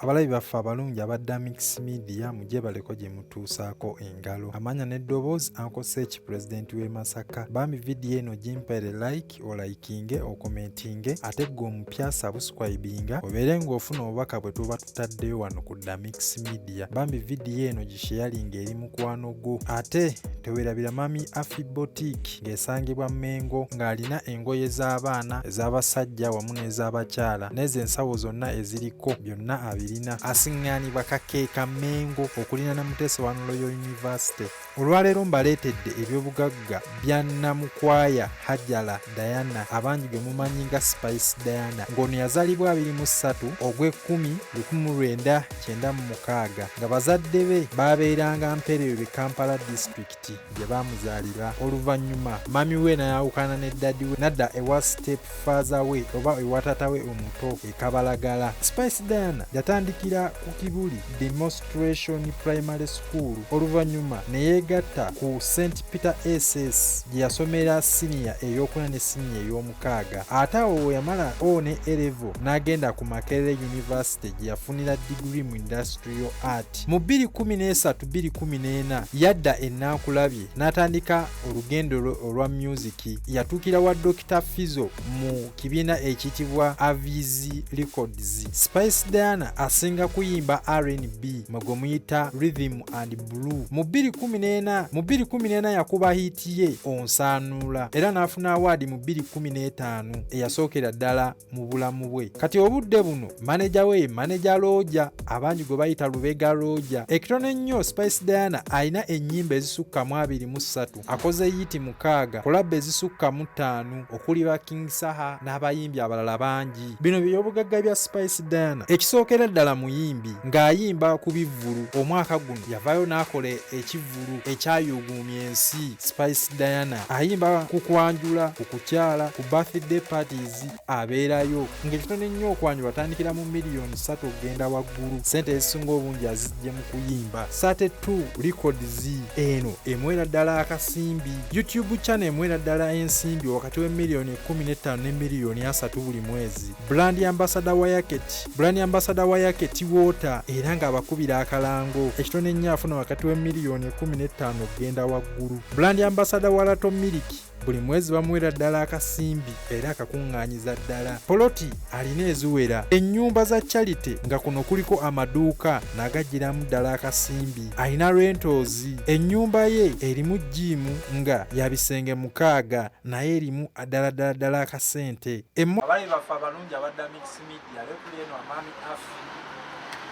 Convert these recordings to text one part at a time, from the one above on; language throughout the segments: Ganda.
abalabi baffe abalungi abadda mix media mugyebaleko gye mutuusaako engalo amanya n'eddoboozi ankosa eki pulezidenti w'e masaka bambi vidiyo eno gimpere like olayikinge okomentinge ate ggwe omupya sabuscribinga obeere ng'ofuna obubaka bwe tuba zitaddeyo wano ku damix media bambi vidiyo eno gisheyalinga eri mukwano gwo ate tewerabira mami afi botik ng'esangibwa mengo ng'alina engoye z'abaana ez'abasajja wamu n'ez'abakyala n'ezo ensawo zonna eziriko byonna abirina asiŋŋaanibwa kakeeka mengo okulina ne muteesa wa nuloyo yunivasite olwaleero mbaleetedde ebyobugagga bya namukwaya hajala diana abangi gwe mumanyi nga spice diana ng'ono yazalibwa 23 ogw'ekumi 1996 nga bazadde be baabeeranga mpereerwe kampala disitulikiti gye baamuzaalira oluvannyuma mami we nayawukana ne dadi we nadda ewa step faaza we oba ewa taata we omuto ekabalagala spice diana yatandikira ku kibuli the most Restoration Primary School oluvannyuma ne yeegatta ku St Peter SS gye yasomera siniya eyokuna ne siniya ey'omukaaga ate awo yamala o ne Elevo n'agenda ku Makerere University gye yafunira digiri mu Industrial Art. Mu 2013-2014 yadda e Nankulabye n'atandika olugendo lwe olwa myuziki. Yatuukira wa Dokita Fizo mu kibiina ekiyitibwa avis records spice diana asinga kuyimba rnb mwe gwe muyita rhythm and blue mu 214 mu 214 yakuba hiiti ye onsaanuula era n'afuna awaadi mu 215 eyasookera ddala mu bulamu bwe kati obudde buno maneja we ye maneja looja abangi gwe bayita lubega looja ekitono ennyo spice diana alina ennyimba ezisukka mu 23 akoze yiiti mukaaga kulabba ezisukka mu ttaano okuli ba king saha n'abayimbi abalala bangi bino byeyobugagga bya spice diana ekisookera ddala muyimbi ng'ayimba ku bivvulu omwaka guno yavayo n'akola ekivvulu ekyayuuguumya ensi spice diana ayimba ku kwanjula ku kukyala ku birthday parties abeerayo ng'ekitono ennyo okwanyu batandikira mu miliyoni ssatu okugenda waggulu ssente ezisinga obungi azijje mu kuyimba sate 2 records eno emwera ddala akasimbi youtube channel emwera ddala ensimbi wakati w'emiliyoni 15 ne miliyoni 3 buli mwezi brand ambasada wa yaketi brand ambasada wa yaketi water era ng'abakubira akalango ekitono ennyo afuna wakati w'emiliyoni 15 okugenda waggulu brand ambasada wa lato miliki buli mwezi bamuwera ddala akasimbi era akakuŋŋaanyiza ddala poloti alina eziwera ennyumba za charity nga kuno kuliko amaduuka n'agajjiramu ddala akasimbi alina rentoozi ennyumba ye erimu jiimu nga ya bisenge mukaaga naye erimu ddala ddala ddala akasente abayi baffe abalungi abadda media yokuli eno amaami afi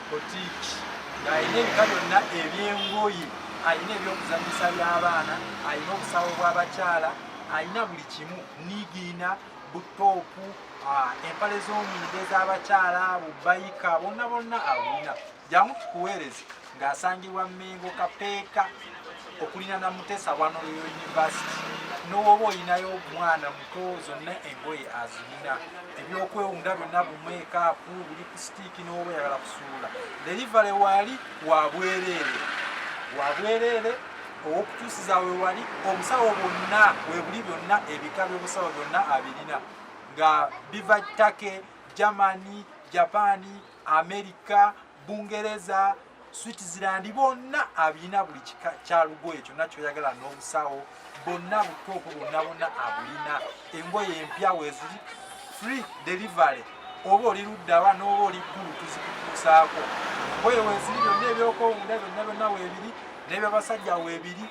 botiki ng'alina ebika byonna ebyengoye alina ebyokuzanyisa by'abaana alina obusawo bw'abakyala alina buli kimu nigiina butoopu ah, empale z'omunda ez'abakyala bubayika bonna bonna abulina jangu tukuweereze ng'asangibwa Mmengo Kapeeka okulina na Mutesa wano Royal University n'owoba olinayo omwana muto zonna engoye azirina ebyokwewunda byonna bumeekaapu buli ku sitiiki n'oba oyagala kusuula derivale waali wa bwereere wa bwereere ow'okutuusiza we wali obusawo bwonna we buli byonna ebika by'obusawo byonna abirina nga biva take germany japaani amerika bungereza switzerland bonna abirina buli kika kya lugoye kyonna kyoyagala n'obusawo bonna butuufu bonna bonna abulina engoye empya weziri free delivery oba oli luddawa n'oba oli ggulu tuzikutuusaako engoye weziri byonna ebyokwewunda byonna byonna webiri n'ebyabasajja webiri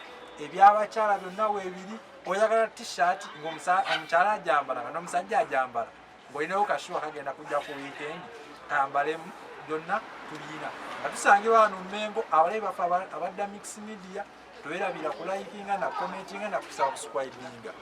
ebyabakyala byonna webiri oyagala t-shirt ngaomukyala ajambala nga n'omusajja ajambala bwolinawo kashuwa kagenda kujja ku weekend kambalemu byonna tulina nga tusangibwa wano mmengo abalayi baffe abadda mix media towerabira kulayikinga na commentinga na kusubscribinga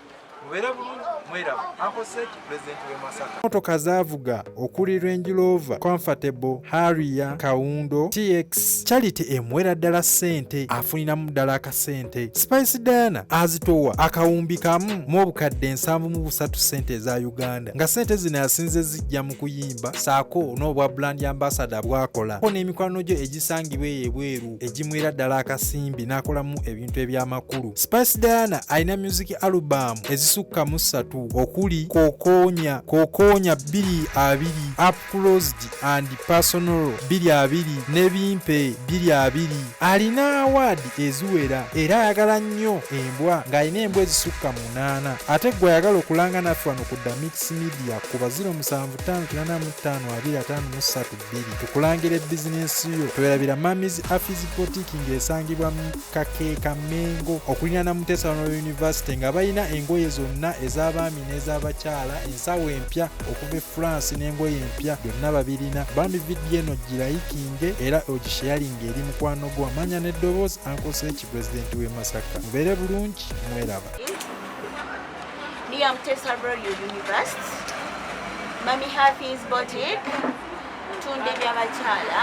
mubere bulungi mwerabu akoset president we masaka motoka zavuga okuli range rover comfortable harrier kawundo tx charity emwera ddala ssente afuniramu ddala sente spice diana azitowa akawumbi kamu mu obukadde nsanvu mu busatu sente eza uganda nga sente zino yasinze zijja mu kuyimba saako n'obwa brand ambasada bwakola ko n'emikwano gyo egisangibwa eyo ebweru egimwera ddala akasimbi n'akolamu ebintu eby'amakulu spice diana alina music album ezisukka mu ssatu okuli kokonya kokonya bbiri abiri closed and personal biri abiri ne bimpe biri abiri alina awaadi eziwera era ayagala nnyo embwa ng'alina embwa ezisukka mu munaana ate gwe ayagala okulanga naffe wano ku damix media ku baziro musanvu ttaano kinana mu ttaano abiri ataano mu ssatu bbiri tukulangira ebizinensi yo twerabira mamis afis botiki ng'esangibwa mu kakeeka mengo okulina na muteesawano yunivasite nga balina engoye zonna ez'abaami abakazi n'ez'abakyala ensawo empya okuva e france n'engoye empya byonna babirina bambi vidiyo eno girayikinge era ogisheyalinga eri mukwano gwo amanya n'eddoboozi ankoseeki pulezidenti w'e masaka mubeere bulungi mweraba Mami Hafiz Boutique tunda ebyabakyala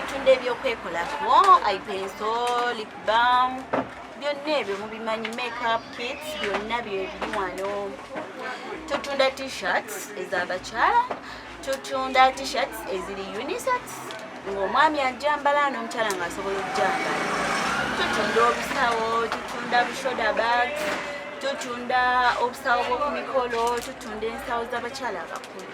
tunda ebyokwekolako ipenso lip balm byonna ebyo mubimanyi makeup kits byonna byebiri wano tutunda t-shirts ezabakyala tutunda t-shirts eziri unisex ng'omwami ajambala n'omukyala ng'asobola okujambala tutunda obusawo tutunda bushoda bags tutunda obusawo bw'oku mikolo tutunda ensawo z'abakyala abakulu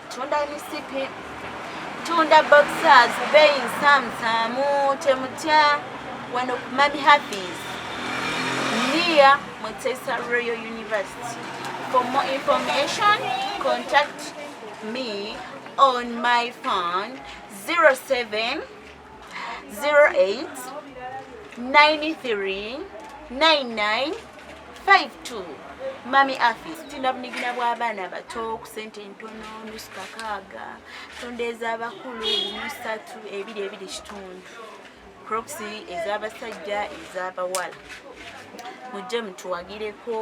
tunda misipi tunda boxers bein samsamu temutya wano ku mami happis near mutesa royal university for more information contact me on my phone 07 08 93 99 52 mami afis tulina bunigina bw'abaana abato ku sente entono nusu kakaaga tonda ez'abakulu musatu ebiri ebiri kitundu croxi ez'abasajja ez'abawala mujje mutuwagireko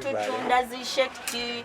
tutunda zishekiti